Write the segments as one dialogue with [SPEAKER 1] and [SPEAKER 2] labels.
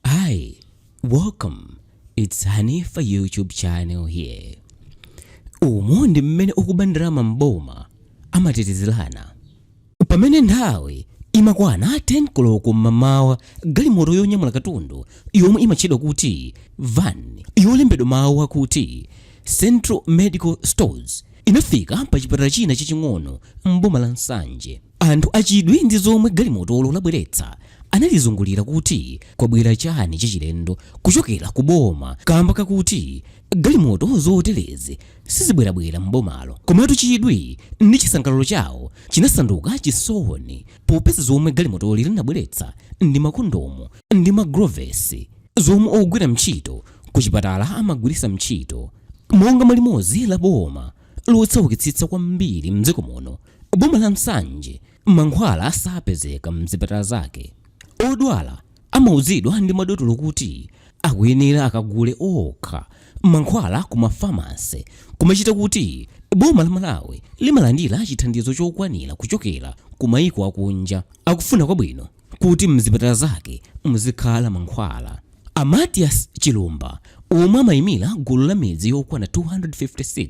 [SPEAKER 1] Hi, welcome. It's Hanifa YouTube channel here. Umu ndi mmene okuba ndalama m'boma amatetezerana. Pamene nthawi imakwana 10 koloko m'mamawa galimoto yonyamula katundu yomwe imatchedwa kuti van yolembedwa mawu akuti Central Medical Stores inafika pa chipatala china chaching'ono m'boma la Nsanje. Anthu achidwi ndi zomwe galimotolo labweretsa analizungulira kuti kwabwera chani chachilendo kuchokera ku boma kamba kakuti galimoto zoterezi sizibwerabwera m'bomalo. Komatu chidwi ndi chisangalalo chawo chinasanduka chisoni popeza zomwe galimotoli linabweretsa ndi makondomu ndi magulovesi zomwe ogwira mtchito ku chipatala amagwiritsa mtchito monga mwa limodzi la boma lotsaukitsitsa kwambiri mdziko muno. Boma la Nsanje mankhwala sapezeka mzipatala zake. Odwala amauzidwa ndi madotolo kuti akuyenera akagule okha mankhwala ku mafamase kumachita kuti boma la Malawi limalandira chithandizo chokwanira kuchokera ku maiko akunja akufuna kwabwino kuti mzipatala zake muzikhala mankhwala. A Mathias Chilumba omwe amayimira gulu la midzi yokwana 256,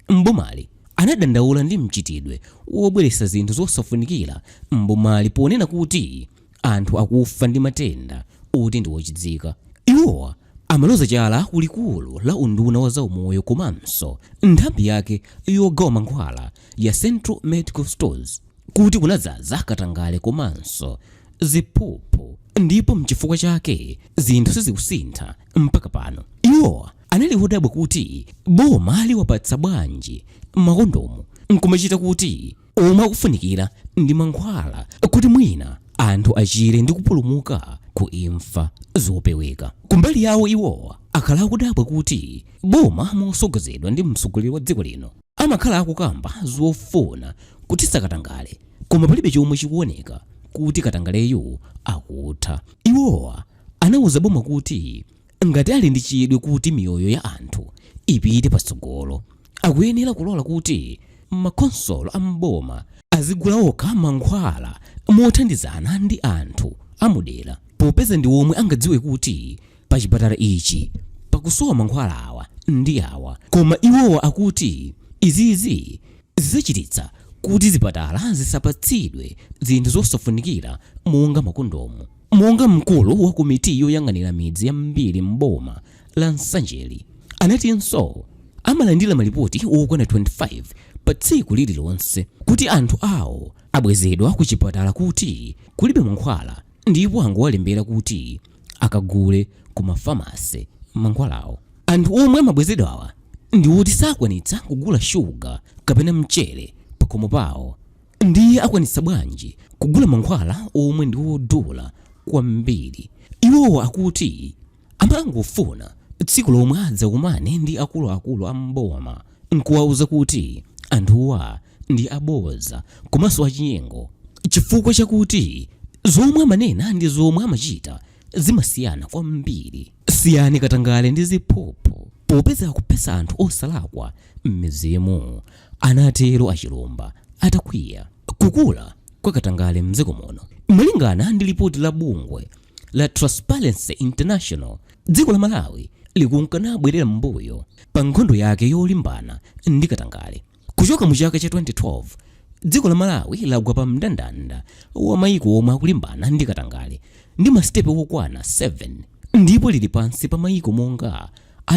[SPEAKER 1] m'bomali anadandaula ndi mchitidwe wobweretsa zinthu zosafunikira m'bomali ponena kuti anthu akufa ndi matenda oti ndi ochidzika. Iwowa amaloza chala ku likulu la unduna wa zaumoyo komanso nthambi yake yogawa mankhwala ya Central Medical Stores kuti kunadzaza katangale komanso ziphuphu ndipo mchifukwa chake zinthu sizikusintha mpaka pano. Iwowa anali odabwa kuti boma liwapatsa bwanji makondomu nkumachita kuti omwe akufunikira ndi mankhwala kuti mwina anthu achire ndi kupulumuka ku imfa zopeweka. Kumbali yawo iwowa akhala akudabwa kuti boma mosogozedwa ndi mtsogoleri wa dziko lino amakhala akukamba zofuna kuthetsa katangale koma palibe chomwe chikuoneka kuti katangaleyu akutha. Iwowa anauza boma kuti Ngati ali ndi chidwi kuti miyoyo ya anthu ipite patsogolo, akuyenera kulola kuti makhonsolo a m'boma azigula okha mankhwala mothandizana ndi anthu a mu dera popeza ndi omwe angadziwe kuti pachipatala ichi pakusowa mankhwala awa ndi awa koma iwowa akuti izizi zidzachititsa kuti zipatala zisapatsidwe zinthu zosafunikira monga makondomu. Monga mkulu wa komiti yoyang'anira midzi yambiri m'boma la Nsanjeri anatinso amalandira malipoti okwana 25 pa tsiku lililonse kuti anthu awo abwezedwa ku chipatala kuti kulibe mankhwala ndipo angowalembera kuti akagule ku ma pharmacy mankhwalawo. Anthu omwe amabwezedwawa ndi oti sakwanitsa kugula shuga kapena mchere pakhomo pawo. Ndiye akwanitsa bwanji kugula mankhwala omwe ndi odula kwambiri? Iwowa akuti amangofuna tsiku lomwe adzakumane ndi akuluakulu a m'boma n'kuwauza kuti anthuwa ndi abodza komanso achinyengo chifukwa chakuti zomwe amanena ndi zomwe amachita zimasiyana kwambiri. Siyani katangale ndi ziphuphu popeza akuphetsa anthu osalakwa m'midzimu. anatero a Chilumba atakwiya. Kukula kwa katangale mdziko muno. Malingana ndi lipoti la bungwe la Transparency International, dziko la Malawi likunka nabwerera m'mbuyo pa nkhondo yake yolimbana ndi katangale. Kuchoka mu chaka cha 2012, dziko la Malawi lagwa pa mndandanda wa mayiko omwe akulimbana ndi katangale ndi masitepe okwana 7 ndipo lili pansi pa mayiko monga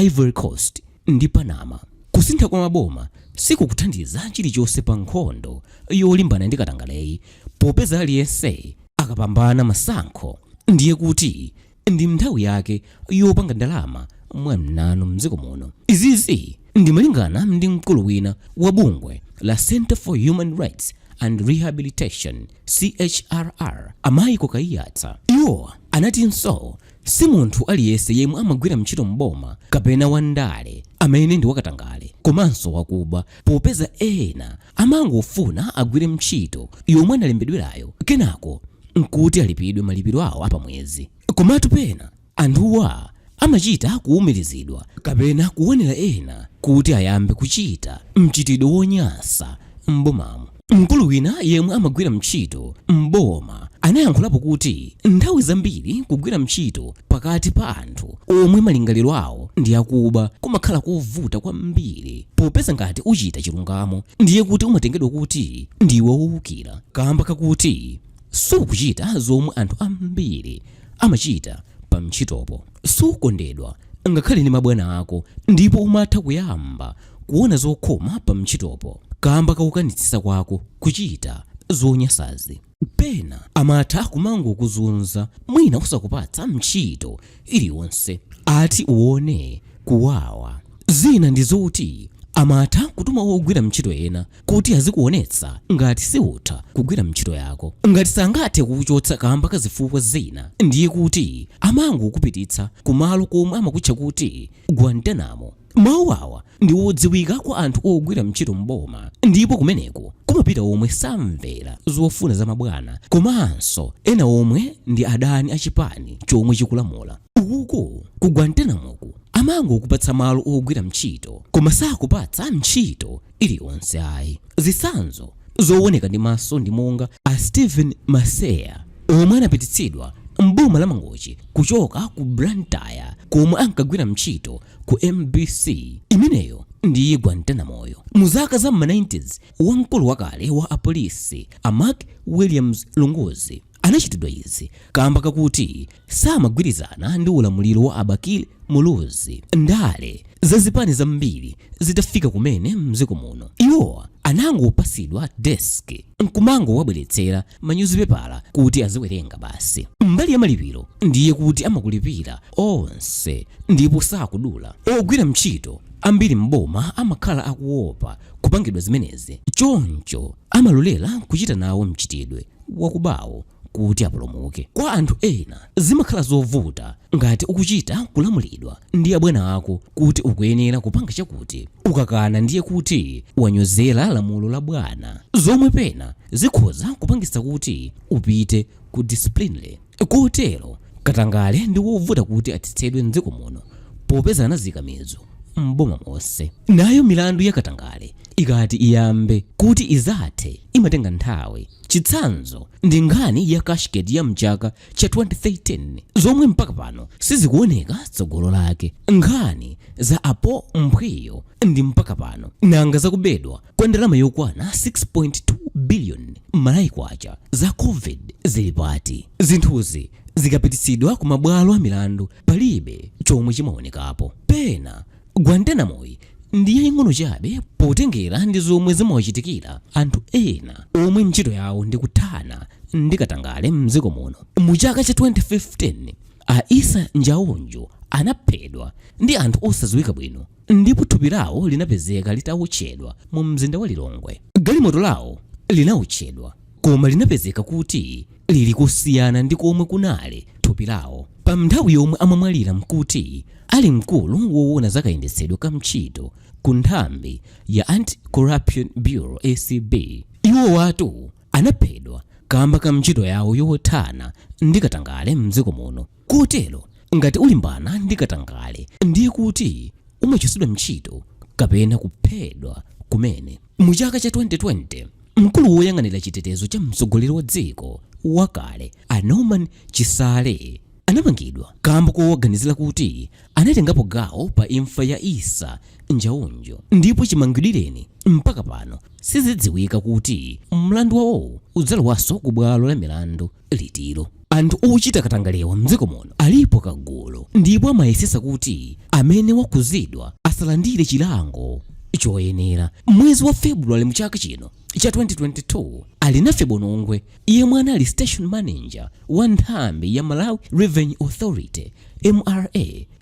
[SPEAKER 1] Ivory Coast, ndi Panama. Kusintha kwa maboma sikukuthandiza chilichonse pa nkhondo yolimbana ndi katangaleyi popeza aliyense akapambana masankho ndiye kuti ndi nthawi yake yopanga ndalama mwa mnanu m'dziko muno. Izizi ndi malingana ndi mkulu wina wa bungwe la Centre for Human Rights and Rehabilitation, CHRR, a Michael Kaiyatsa. Iwo anatinso Si munthu aliyense yemwe amagwira ntchito m'boma kapena wa ndale amene ndi wakatangale komanso wakuba popeza ena amangofuna agwire ntchito yomwe analembedwerayo kenako nkuti alipidwe malipiro awo a pamwezi. Komatu pena anthuwa amachita kuwumirizidwa kapena kuwonera ena kuti ayambe kuchita mchitidwe wonyasa m'bomamo. Mkulu wina yemwe amagwira ntchito m'boma anayankhulapo kuti nthawi zambiri kugwira ntchito pakati pa anthu omwe malingaliro awo ndi akuba kumakhala kovuta kwambiri popeza ngati uchita chilungamo ndiye kuti umatengedwa kuti ndiwe wowukira kamba kakuti sukuchita zomwe anthu ambiri amachita pa ntchitopo sukondedwa ngakhale ndi mabwana ako ndipo umatha kuyamba kuona zokhoma pa ntchitopo kamba ka kukanitsitsa kwako kuchita zonyansazi. Pena amatha kumangokuzunza mwina osakupatsa ntchito iliyonse ati uwone kuwawa. Zina ndi zoti amatha kutuma ogwira ntchito ena kuti azikuonetsa ngati siutha kugwira ntchito yako. Ngati sangathe kukuchotsa kamba ka zifukwa zina ndiye kuti amangokupititsa kumalo komwe amakutcha kuti Guantanamo. Mawu awa ndi odziwika kwa anthu ogwira ntchito m'boma ndipo kumeneko kumapita omwe samvera zofuna za mabwana komanso ena omwe ndi adani a chipani chomwe chikulamula. Uku ku Guantanamoku amangokupatsa malo ogwira ntchito koma sakupatsa ntchito. iliyonse ayi. Zitsanzo zowoneka ndi maso ndi monga a Steven Maseya omwe anapititsidwa m'boma la Mangochi kuchoka ku Blantyre komwe ankagwira ntchito ku MBC, imeneyo ndiye Guantanamoyo. Mu zaka za m'ma 90's, wamkulu wakale wa apolisi a Mark Williams Lunguzi, Anachitidwa izi kamba kakuti samagwirizana ndi ulamuliro wa a Bakili Muluzi. Ndale za zipani zambiri zitafika kumene mdziko muno, iwo anangopatsidwa desk nkumangowabweretsera manyuzipepala kuti aziwerenga basi. Mbali ya malipiro ndiye kuti amakulipira onse ndipo sakudula. Ogwira ntchito ambiri m'boma amakhala akuopa kupangidwa zimenezi choncho amalolera kuchita nawo mchitidwe. wakubawo kuti apulumuke. Kwa anthu ena, zimakhala zovuta ngati ukuchita kulamulidwa ndi abwana ako kuti ukuyenera kupanga chakuti. Ukakana ndiye kuti wanyozera lamulo la bwana, zomwe pena zikhoza kupangitsa kuti upite ku disciplinary. Kotero, katangale ndi wovuta kuti athetsedwe m'dziko muno popeza anazika mizu m'boma monse. Nayo milandu ya katangale ikati iyambe kuti idzathe imatenga nthawi. Chitsanzo ndi nkhani ya cashgate ya m'chaka cha 2013 zomwe mpaka pano sizikuoneka tsogolo lake. Nkhani za a Paul Mphwiyo ndi mpaka pano. Nanga za kubedwa kwa ndalama yokwana 6.2 billion Malawi kwacha za covid zili pati? Zinthuzi zikapititsidwa ku mabwalo a milandu palibe chomwe chimaonekapo. Pena Guantanamoyi ndi yaying'ono chabe potengera ndi zomwe zimawachitikira anthu ena omwe ntchito yawo ndi kuthana ndi katangale mdziko muno. Mu chaka cha 2015 a Issa Njaunju anaphedwa ndi anthu osadziwika bwino ndipo thupi lawo linapezeka litawotchedwa mu mzinda wa Lilongwe. Galimoto lawo linawotchedwa koma linapezeka kuti lili kosiyana ndi komwe kunali thupi lawo pa nthawi yomwe amamwalira mkuti ali mkulu wowona za kayendetsedwe ka mtchito ku nthambi ya Anti Corruption Bureau acb. Iwowatu anaphedwa kamba ka mtchito yawo yothana ndi katangale mdziko muno. Kotero ngati ulimbana ndi katangale ndiye kuti umachotsedwa mtchito kapena kuphedwa kumene. Mu chaka cha 2020, mkulu woyang'anira chitetezo cha mtsogoleri wa dziko wakale a Norman Chisale anamangidwa kamba kowaganizira kuti anatengapo gawo pa imfa ya Issa Njaunju ndipo chimangidwireni mpaka pano sizidziwika kuti mlandu wawo udzalowanso ku bwalo la milandu. litilo? Anthu ochita katangalewa mdziko muno alipo kagulu ndipo amayesesa kuti amene wakhuzidwa asalandire chilango choyenera. Mwezi wa February mu chaka chino cha 2022, Alinafe Bonongwe yemwe anali station manager wa nthambi ya Malawi Revenue Authority, mra,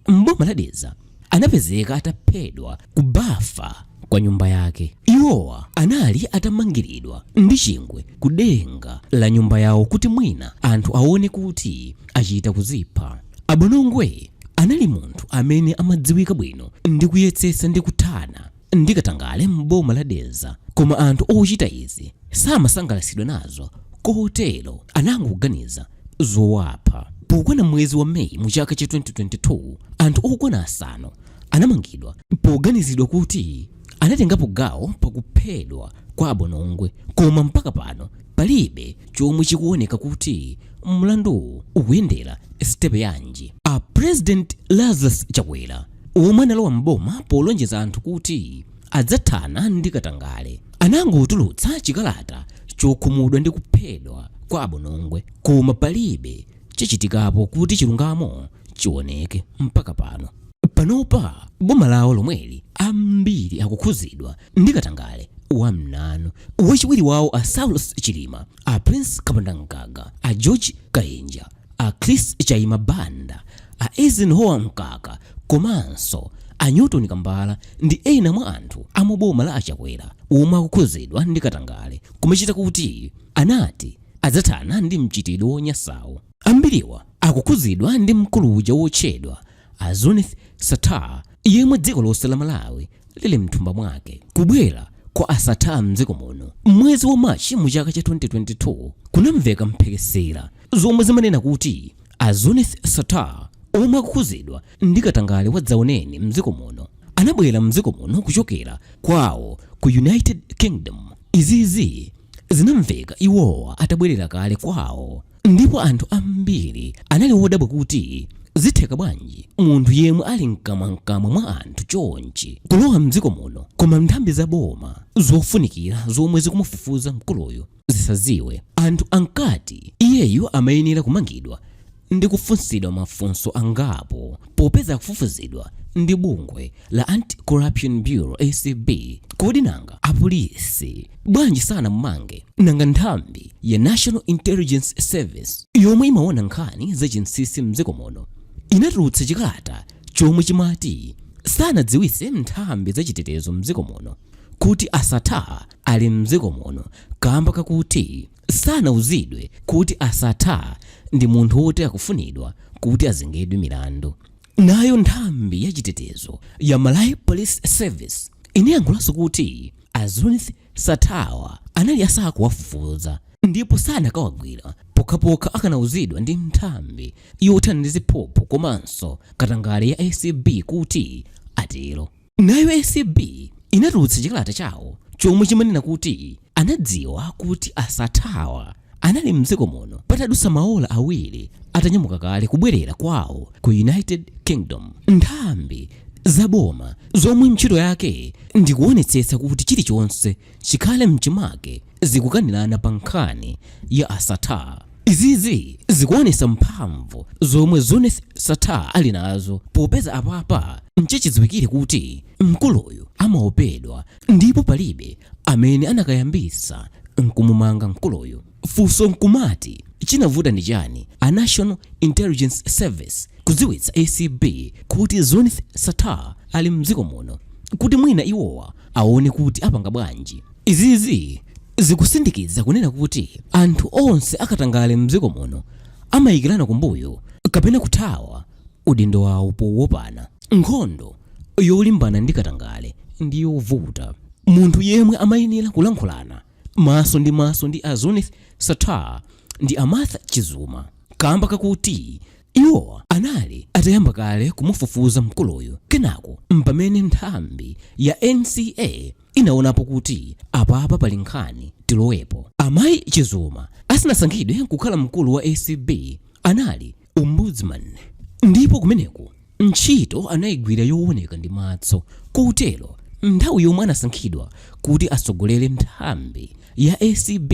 [SPEAKER 1] m'boma la Dedza, anapezeka ataphedwa ku bafa kwa nyumba yake. Iwowa anali atamangiridwa ndi chingwe ku denga la nyumba yawo kuti mwina anthu aone kuti achita kuzipha. A Bonongwe anali munthu amene amadziwika bwino ndi kuyetsetsa ndi kuthana ndi katangale m'boma la Dedza koma anthu ochita izi samasangalatsidwa nazo kotero anangoganiza zowapha. Pokwana mwezi wa May mu chaka cha 2022, anthu okwana asanu anamangidwa poganizidwa kuti anatengapo gawo pakuphedwa kwa a Bonongwe koma mpaka pano palibe chomwe chikuoneka kuti mlanduwu ukuyendera sitepe yanji. A President Lazarus Chakwera omwe analowa m'boma polonjeza anthu kuti adzathana ndi katangale, anangotulutsa chikalata chokhumudwa ndi kuphedwa kwa a Bonongwe koma palibe chachitikapo kuti chilungamo chioneke mpaka pano. Panopa boma lawo lomweli ambiri akukhuzidwa ndi katangale wa mnanu. Wachiwiri wawo a Saulos Chilima, a Prince Kapondamgaga, a George Kainja, A Chris Chaima Banda, a Eisenhower Mkaka komanso a Newton Kambala ndi ena mwa anthu a mu boma la a Chakwera omwe akukhuzidwa ndi katangale koma chita kuti anati adzathana ndi mchitidwe wonyansawu. Ambiriwa akukhuzidwa ndi mkulu uja wotchedwa a Zuneth Sattar yemwe dziko lonse la Malawi lili mthumba mwake kubwera kwa a Sattar mdziko muno mwezi wa machi mu chaka cha 2022 kunamveka mphekesera zomwe zimanena kuti a Zuneth Sattar omwe akukhuzidwa ndi katangale wadzaoneni mdziko muno anabwera mdziko muno kuchokera kwawo ku United Kingdom izizi zinamveka iwowa atabwerera kale kwawo ndipo anthu ambiri anali wodabwa kuti zitheka bwanji munthu yemwe ali mkamwamkamwa mwa anthu chonchi kulowa mdziko muno koma nthambi za boma zofunikira zomwe zikumufufuza mkuluyu zisaziwe anthu ankati iyeyu amayenera kumangidwa ndi kufunsidwa mafunso angapo popeza akufufuzidwa ndi bungwe la Anti Corruption Bureau ACB. Kodi nanga apolisi bwanji sanammange nanga nthambi ya National Intelligence Service yomwe imaona nkhani za chinsinsi mdziko muno inatulutsa chikalata chomwe chimati sanadziwise nthambi za chitetezo mdziko muno kuti a Sattar ali mdziko muno kamba kakuti sanauzidwe kuti a Sattar ndi munthu woti akufunidwa kuti azengedwe milandu Nayo nthambi ya chitetezo ya Malawi Police Service inayankhulanso kuti a Zuneth Sattar-wa anali asakuwafufuza ndipo sanakawagwira pokhapokha akanauzidwa ndi nthambi yothana ndi ziphuphu komanso katangale ya acb kuti atero. Nayo acb inatulutsa chikalata chawo chomwe chimanena kuti anadziwa kuti a Sattar-wa anali m'dziko muno patadutsa maola awiri atanyamuka kale kubwerera kwawo ku United Kingdom. Nthambi za boma zomwe ntchito yake ndi kuonetsetsa kuti chilichonse chikhale m'chimake, zikukanirana pa nkhani ya a Sattar. Izizi zikuonesa mphamvu zomwe Zuneth Sattar ali nazo popeza apapa nchichidziwikire kuti mkuluyu amaopedwa ndipo palibe amene anakayambisa nkumumanga mkuluyu. Funso nkumati chinavuta ndi chani a National Intelligence Service kudziwitsa acb kuti Zuneth Sattar ali mdziko muno kuti mwina iwowa aone kuti apanga bwanji? Izizi zikusindikiza kunena kuti anthu onse akatangale mdziko muno amayikirana kumbuyo kapena kuthawa udindo wawo powopana. Nkhondo yolimbana ndi katangale ndi yovuta. Munthu yemwe amayenera kulankhulana maso ndi maso ndi a Zuneth Sattar ndi a Martha Chizuma kamba kakuti iwo anali atayamba kale kumufufuza mkuluyu. Kenako mpamene nthambi ya NCA inaonapo kuti apapa pali nkhani tilowepo. Amayi Chizuma asanasankhidwe kukhala mkulu wa acb anali Ombudsman ndipo kumeneko ntchito anayigwira yooneka ndi matso kotero nthawi yomwe anasankhidwa kuti atsogolere nthambi ya acb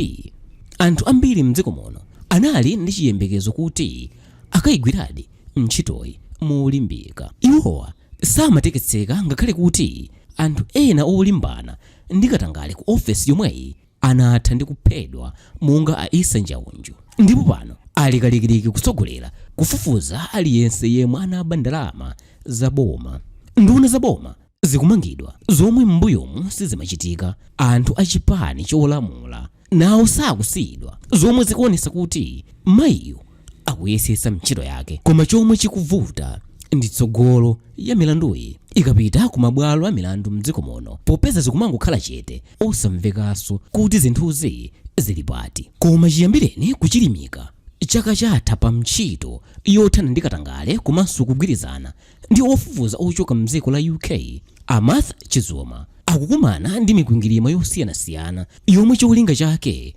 [SPEAKER 1] anthu ambiri m'dziko muno anali ndi chiyembekezo kuti akayigwiradi. ntchitoyi molimbika. Iwowa samateketseka ngakhale kuti anthu ena olimbana ndi katangale ku ofesi yomweyi anatha ndi kuphedwa monga a Issa Njaunju ndipo pano ali kalikiliki kutsogolera kufufuza aliyense yemwe anaba ndalama za boma. Nduna za boma. zikumangidwa zomwe m'mbuyomu sizimachitika. Anthu a chipani cholamula nawo sakusiyidwa zomwe zikuonetsa kuti mayiyu akuyesetsa ntchito yake koma chomwe chikuvuta ndi tsogolo ya milanduyi ikapita ku mabwalo a milandu mdziko muno popeza zikumangokhala chete osamvekanso kuti zinthuzi zili pati. Koma chiyambireni kuchilimika chaka chatha pa ntchito yothana ndi katangale komanso kugwirizana ndi ofufuza ochoka m'dziko la UK a Martha Chizuma akukumana ndi mikwingwirima yosiyanasiyana yomwe cholinga chake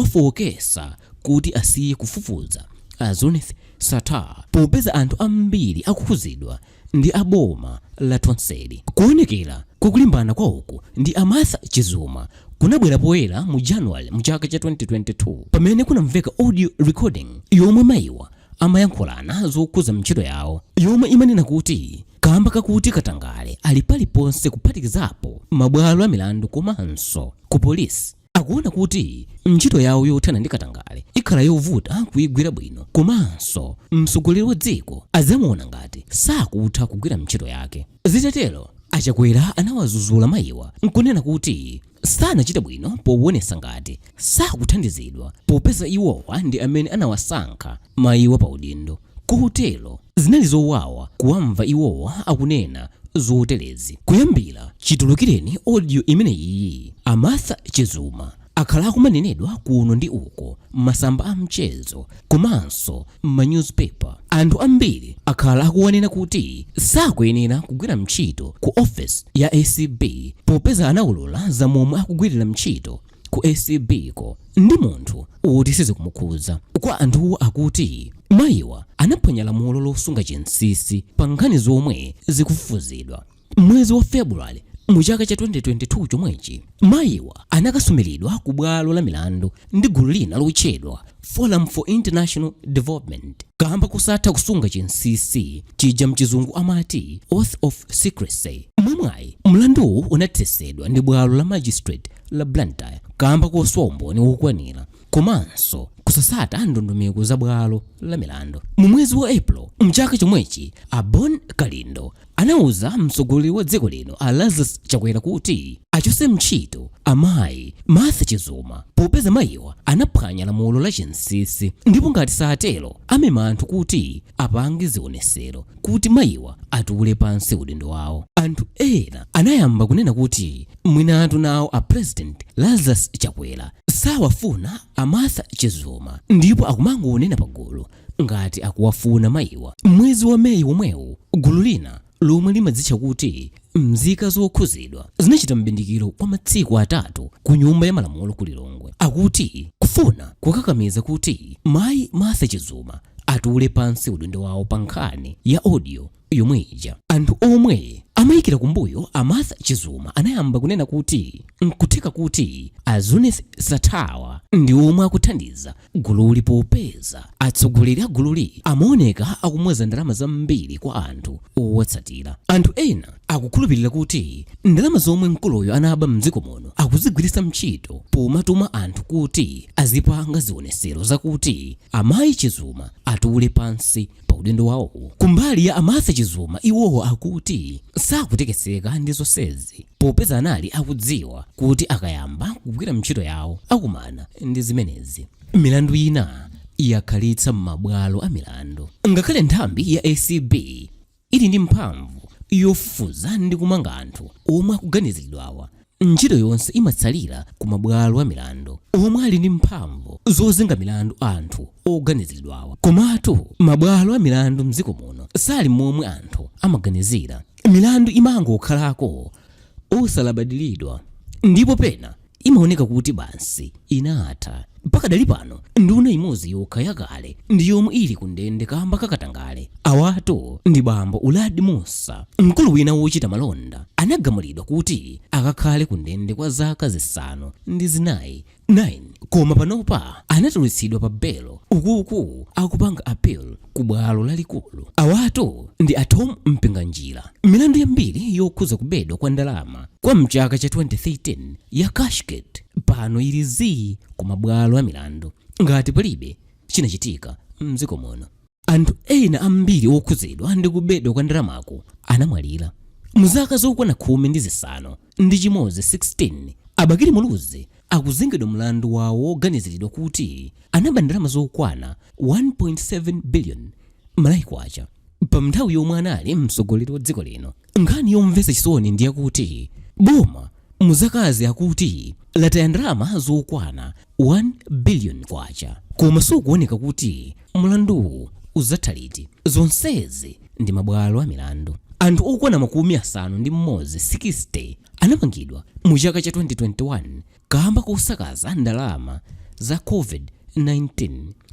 [SPEAKER 1] nkuwafooketsa kuti asiye kufufuza a Zuneth Sattar popeza anthu ambiri akukhudzidwa ndi aboma la Tonseli kuonekera kwa kulimbana kwawoku ndi a Martha Chizuma kunabwera poyera mu January mu chaka cha 2022 pamene kunamveka audio recording yomwe mayiwa amayankhulana zokhudza ntchito yawo yomwe imanena kuti kamba kakuti katangale ali paliponse kuphatikizapo mabwalo amilandu komanso ku polisi akuona kuti ntchito yawo yothana ndi katangale ikhala yovuta kuigwira bwino komanso mtsogoleri wa dziko adzamuona ngati sakutha kugwira ntchito yake zitatero a Chakwera anawazuzula mayiwa nkunena kuti sanachite bwino powonetsa ngati sakuthandizidwa popeza iwowa ndi amene anawasankha mayiwa pa udindo kotero zinali zowawa kuwamva iwowa akunena zoterezi kuyambira chitulukireni audio imeneyiyi a Martha Chizuma akhala akumanenedwa kuno ndi uko m'masamba a mchezo komanso m'ma newspaper anthu ambiri akhala akuwanena kuti sakuyenera kugwira ntchito ku office ya acb popeza anaulula za momwe akugwirira ntchito ku acb ko ndi munthu woti sizikumukhudza kwa anthuwo akuti mayiwa anaphwanya lamulo losunga chinsinsi pa nkhani zomwe zikufufuzidwa M'mwezi wa February mu chaka cha 2022 chomwechi, mayiwa anakasumiridwa ku bwalo la milandu ndi gulu lina lotchedwa Forum for International Development kamba kosatha kusunga chinsisi chija mchizungu amati oath of secrecy. Mwamwayi, mlanduwu unathesedwa ndi bwalo la magistrate la Blantyre kamba kosowa umboni wokwanira komanso kusasata ndondomeko za bwalo la milandu. Mu mwezi wa April mchaka chomwechi, a Bon Kalindo anauza mtsogoleri wa dziko lino a Lazarus Chakwera kuti achose mntchito amayi Martha Chizuma popeza mayiwa anaphwanya lamulo la chinsisi ndipo ngati satero amema anthu kuti apange zionesero kuti mayiwa atule pansi udindo wawo. Anthu ena anayamba kunena kuti mwinatu nawo a President Lazarus Chakwera sawafuna a Martha Chizuma ndipo akumangonena pagulu ngati akuwafuna mayiwa. M'mwezi wa May womwewu, gulu lina lomwe limadzitcha kuti Mzika Zokhuzidwa zinachita m'bindikiro kwa matsiku atatu ku Nyumba ya Malamulo ku Lilongwe akuti kufuna kukakamiza kuti mayi Martha Chizuma atule pansi udindo wawo pa nkhani ya audio. yomwe ija. Anthu omwe amayikira kumbuyo a Martha Chizuma anayamba kunena kuti nkutheka kuti a Zuneth Sattar-wa ndi omwe akuthandiza gululi popeza atsogoleri a gululi amaoneka akumwaza ndalama zambiri kwa anthu owatsatira. Anthu ena akukhulupirira kuti ndalama zomwe mkuluyo anaba mdziko muno akuzigwiritsa ntchito pomatuma anthu kuti azipanga zionesero zakuti amayi Chizuma atule pansi pa udindo wawowo. Kumbali ya a Martha Chizuma iwowo akuti sakutekeseka ndi zonsezi popeza anali akudziwa kuti akayamba kugwira ntchito yawo akumana ndi zimenezi. Milandu ina yakhalitsa m'mabwalo a milandu ngakhale nthambi ya ACB ili ndi mphamvu yofufuza ndi kumanga anthu omwe akuganiziridwawa Ntchito yonse imatsalira ku mabwalo a milandu omwe ali ndi mphamvu zozenga milandu anthu oganiziridwawa. Komatu mabwalo a milandu m'dziko muno sali momwe anthu amaganizira. Milandu imangokhalako osalabadiridwa ndipo pena imaoneka kuti basi. inatha. Pakadali pano nduna imodzi yokha yakale ndi yomwe ili ku ndende kamba ka katangale. Awatu ndi bambo Uladi Mussa, mkulu wina wochita malonda anagamulidwa kuti akakhale ku ndende kwa zaka zisanu ndi zinayi koma panopa anatulutsidwa pa belo uku akupanga appeal. ku bwalo lalikulu. Awatu ndi a Tom Mpinganjira. Milandu yambiri yokhuza kubedwa kwa ndalama kwa mchaka cha 2013 ya cashgate pano ili zii ku mabwalo a milandu ngati palibe chinachitika mdziko muno. Anthu ena ambiri okhuzidwa ndi kubedwa kwa ndalamaku anamwalira mu zaka zokwana khumi ndi zisanu ndi chimodzi 16 a Bakili Muluzi akuzengedwa mlandu wawo woganiziridwa kuti anaba ndalama zokwana 1.7 billion Malawi kwacha pa nthawi yomwe anali mtsogoleri wa dziko lino. Nkhani yomvetsa chisoni ndi yakuti boma mu zakazi akuti lataya ndalama zokwana 1 billion kwacha koma sikuoneka kuti mlanduwu uzatha liti zonsezi ndi mabwalo a milandu anthu okwana makumi asanu ndi mmodzi 60 anamangidwa mu chaka cha 2021 kamba kosakaza ndalama za covid-19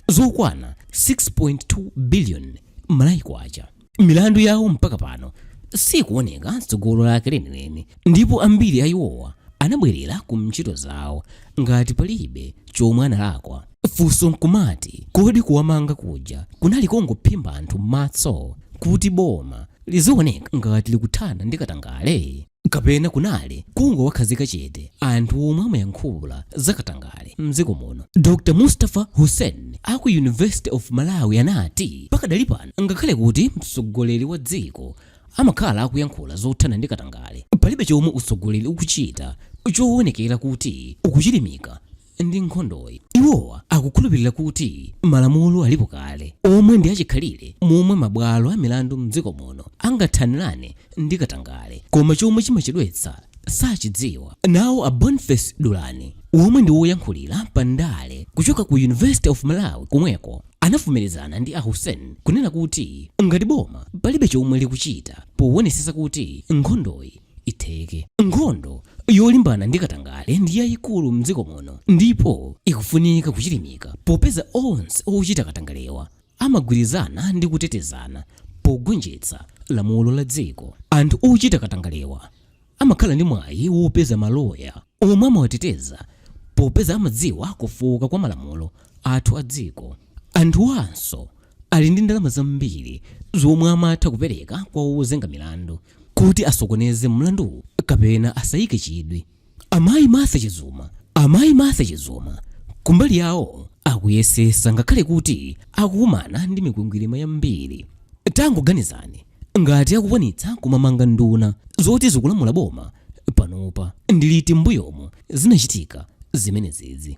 [SPEAKER 1] zokwana 6.2 billion Malawi kwacha milandu yawo mpaka pano sikuoneka tsogolo lake lenileni ndipo ambiri a iwowa anabwerera ku ntchito zawo ngati palibe chomwe analakwa funso nkumati kodi kuwamanga kuja kunali kongophimba anthu m'maso kuti boma lizioneka ngati likuthana ndi katangale kapena kunali kungowakhazika chete anthu omwe amayankhula za katangale mdziko muno dr mustapha hussein a ku university of malawi anati pakadali pano ngakhale kuti mtsogoleri wa dziko amakhala akuyankhula zothana ndi katangale palibe chomwe utsogoleri ukuchita chowonekera kuti ukuchilimika ndi nkhondoyi. Iwowa akukhulupirira kuti malamulo alipo kale omwe ndi achikhalire momwe mabwalo a milandu m'dziko muno angathanirane ndi katangale koma chomwe chimachedwetsa sachidziwa. Nawo a Boniface Dulani womwe ndi woyankhulira pa ndale kuchoka ku University of Malawi komweko anavomerezana ndi a Hussein kunena kuti ngati boma palibe chomwe likuchita powonesesa kuti nkhondoyi itheke. Nkhondo yolimbana ndi katangale ndi yayikulu m'dziko muno ndipo ikufunika kuchilimika popeza onse ochita katangalewa amagwirizana ndi kutetezana pogonjetsa lamulo la dziko. Anthu ochita katangalewa amakhala ndi mwayi wopeza maloya omwe amawateteza popeza amadziwa kufooka kwa malamulo athu a dziko. Anthuwanso ali ndi ndalama zambiri zomwe amatha kupereka kwa ozenga milandu. kuti asokoneze mlanduwu kapena asayike chidwi Amayi Martha Chizuma. Amayi Martha Chizuma kumbali yawo akuyesesa ngakhale kuti akukumana ndi mikwingwirima yambiri. Tangoganizani ngati akukwanitsa kumamanga nduna zoti zikulamula boma panopa ndi liti m'mbuyomu zinachitika zimenezizi.